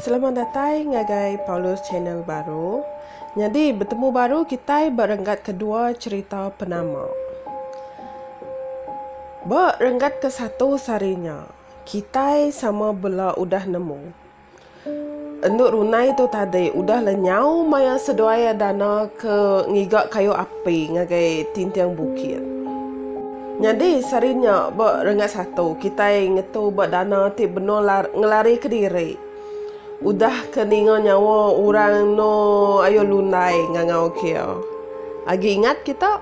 Selamat datai ngagai Paulus Channel baru. Nyadi betemu baru kitai ba renggat kedua cherita penama. Ba renggat ke satu sehari nya, kitai sama bela udah nemu Endu runai tu tadi udah la nyau maya seduai dana ke ngiga kayu api ngagai tinting bukit. Nyadi sehari nya ba renggat satu kitai ngetu ba dana ti benung ngelarika diri udah ke ninga nyawa orang eno ayo lundai ngangau kia. Agi ingat kita?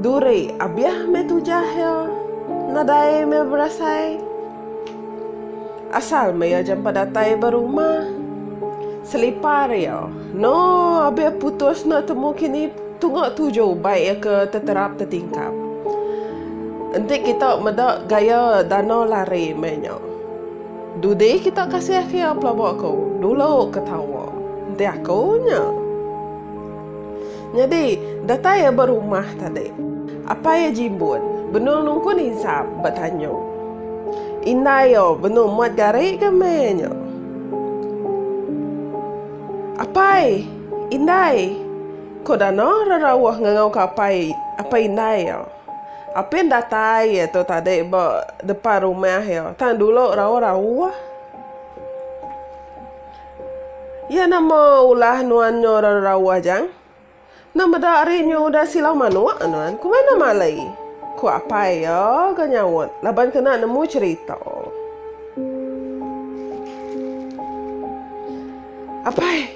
Duri abiah meh tujah iya, nadai meh berasai. Asal meh iya jampat datai ba rumah. Selipar iya, no abiah putus enda temu kini tunga tuju bai iya ke teterap tetingkap. Enti kita meda gaya dano lari meh nya, dudi kita kasih ke iya pelaba ko dulu ketawa enti aku nya. Nyadi, datai iya ba rumah tadi. Apai iya jimbun, benung nungkun insap ba tanyung. Indai iya benung muat gari ke meh iya nya. Apai! Indai! Ko Dana rerauh ngangauka apai apai indai iya. Apin datai iya tu tadi ba depan rumah iya tang dulu rauh-rauh. Iya nama ulah nuan nyo rarauh jang? Enda meda ari nyo udah silau manuk nuan, ku mana malai? ku apai iya ga nyaut laban kena nemu cherita. Apai,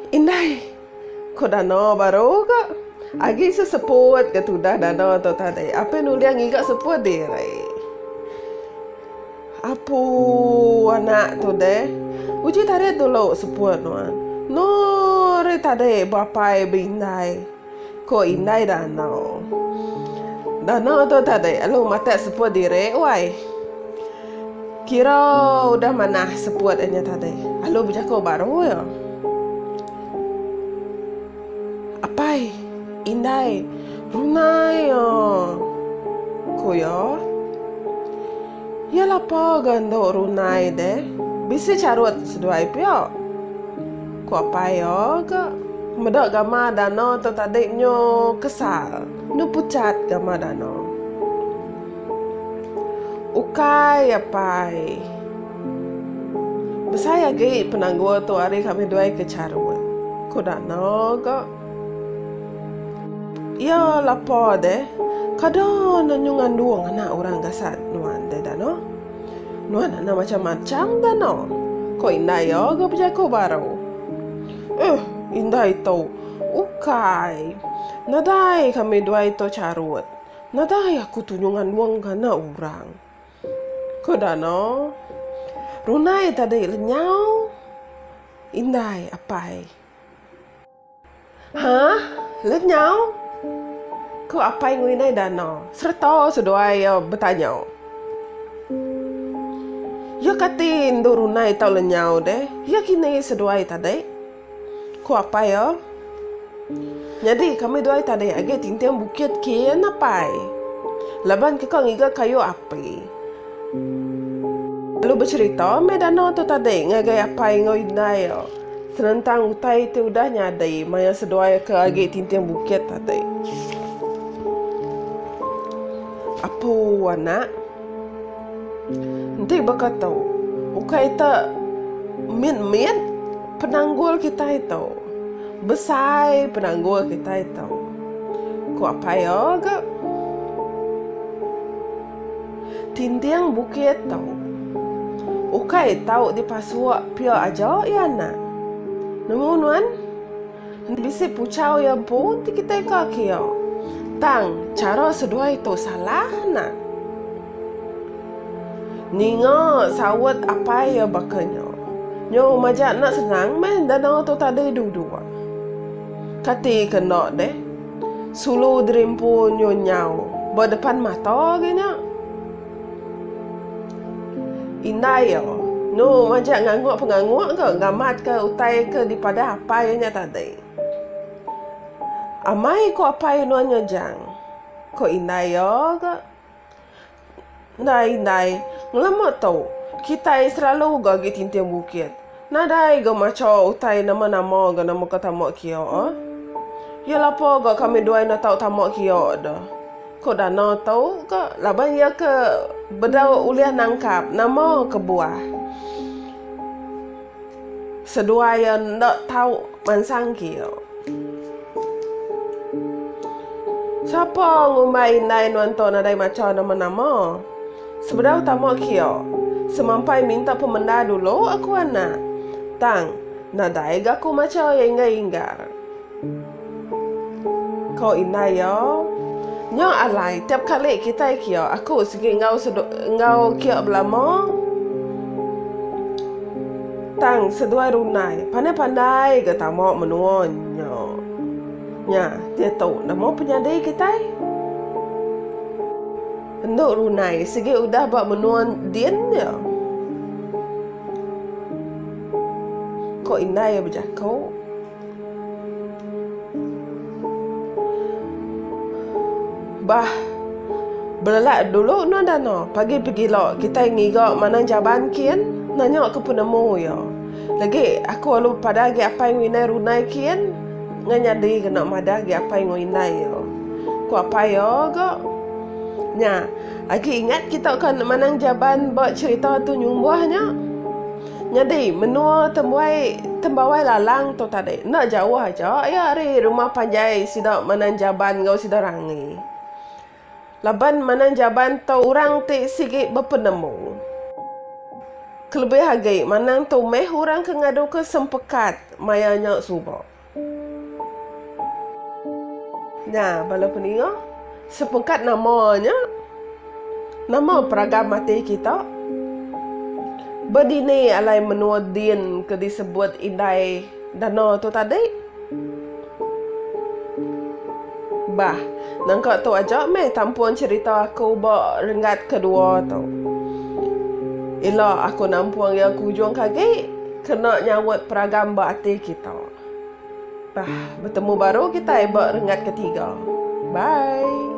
indai. Ko dana baru ga. Agi se seput ke tudah dana tu tadi. Apai nuling ngiga seput diri. Apu anak tu deh. Uji tadi dulu seput nuan. No ari tadi beapai be indai. Ko indai dana. Dana tu tadi lalu matak seput diri wai. Kira udah manah seput inya tadi. Lalu bejaku baru ya. Apai, indai, rungai a. Ku iya. Iya lapa ga endo runai deh, bisi charut seduai pia. Ku apai iya ga. Meda gama dana tu tadi nyu kesal, nyu puchat gama dana. Ukai apai. Besai agi penanggul tu ari kami duai ke charut, ku Danau ga. Iya lapa deh, kada ne nyu ngandung anak orang gasan nuan deh Danau. Nuan anak macam-macam Danau, ku indai iya ga bejaku baru. Uih, indai tu ukai nadai kami duai tu charut, nadai aku tu nyu ngandung anak orang. Ko Dano. Runai tadi lenyau indai apai. Hah? Lenyau? Ko apai enggau indai Dano sereta seduai iya betanya. Iya kati endo runai tau lenyau deh. Iya kini seduai tadi. Ku apai iya. Nyadi kami dua ai tading agi tinting bukit kin apai. Laban keka ngiga kayu api. Lalu becherita meh dana tu tadi ngagai apai enggau indai iya senentang utai ti udah nyadi maya seduai ke agi tinting bukit tadi. Apu anak. Enti baka tu, ukai ta mit mit penanggul kitai tu, besai penanggul kitai tu, ku apai iya ga. Tinding bukit tu ukai tau dipasuk pia aja iya anak. Nemu nuan? Enti bisi puchau iya empu enti kitai ka ke iya. Tang, chara seduai tu salah nah. Ninga saut apai iya baka nya. Nyu majak enda senang meh enda danga tu tadi dua-dua. Kati ke enda deh. Sulu diri empu nyu nyau ba depan mata agi nya. Indai iya. Nu majak ngangguk pengangguk ke ngamat ke utai ke dipadah apai inya tadi. Amai ku apai nuan Nyojang. Ku indai iya ga. Enda indai, ngelemu tu kitai selalu ga gi tinting bukit. Nadai ga macha utai nama-nama ga na muka tama kia a. Iya lapa ga kami duai na tau tama kia da. Ko Dana tau ga laban iya ke bedau ulih nangkap nama kebuah seduai iya enda tau mansang kia. Sapa ngumbai indai nuan tu nadai macha nama-nama. Sebedau tama kio. Semampai minta pemenda dulu aku anak. Tang, nadai ga aku macha iya inggar-inggar. Ko indai iya. Nya alai tiap kali kitai kio aku sigi enggau sedu enggau kio belama. Tang seduai rundai pandai-pandai ga tama menua nya. Nya, diatu nama penyadi kitai. Endo runai sigi udah ba menua din nya. Ko indai iya bejako. Bah belelak dulu enda dah no. Pagi pegilo kitai ngiga manang jaban kin nanya ke penemu iya. Legi aku lalu pada agi apai ngu indai runai kin. Nya nyadi kena madah agi apai enggau indai iya. Ku apai iya ga. Nya, agi ingat kita ka enda manang jaban ba cherita tu nyumbuh nya. Nyadi, menua tembuai tembawai lalang tu tadi, enda jauh aja iya ari rumah panjai sida manang jaban enggau sida rangi. Laban manang jaban tau orang ti sigi bepenemu. Kelebih agi manang tu meh orang ke ngaduka sempekat maya nya suba. Nya bala peninga, sempekat nama nya? Nama peragan mati kita? Bedini alai menua din ke disebut indai dana tu tadi? Bah. Nangka tu aja meh tampun cherita aku ba renggat kedua tu. Ila aku nampung iya ke ujung ke agi kena nyaut peragam ba ati kita. Bah. Betemu baru kitai ba renggat ketiga. Bye.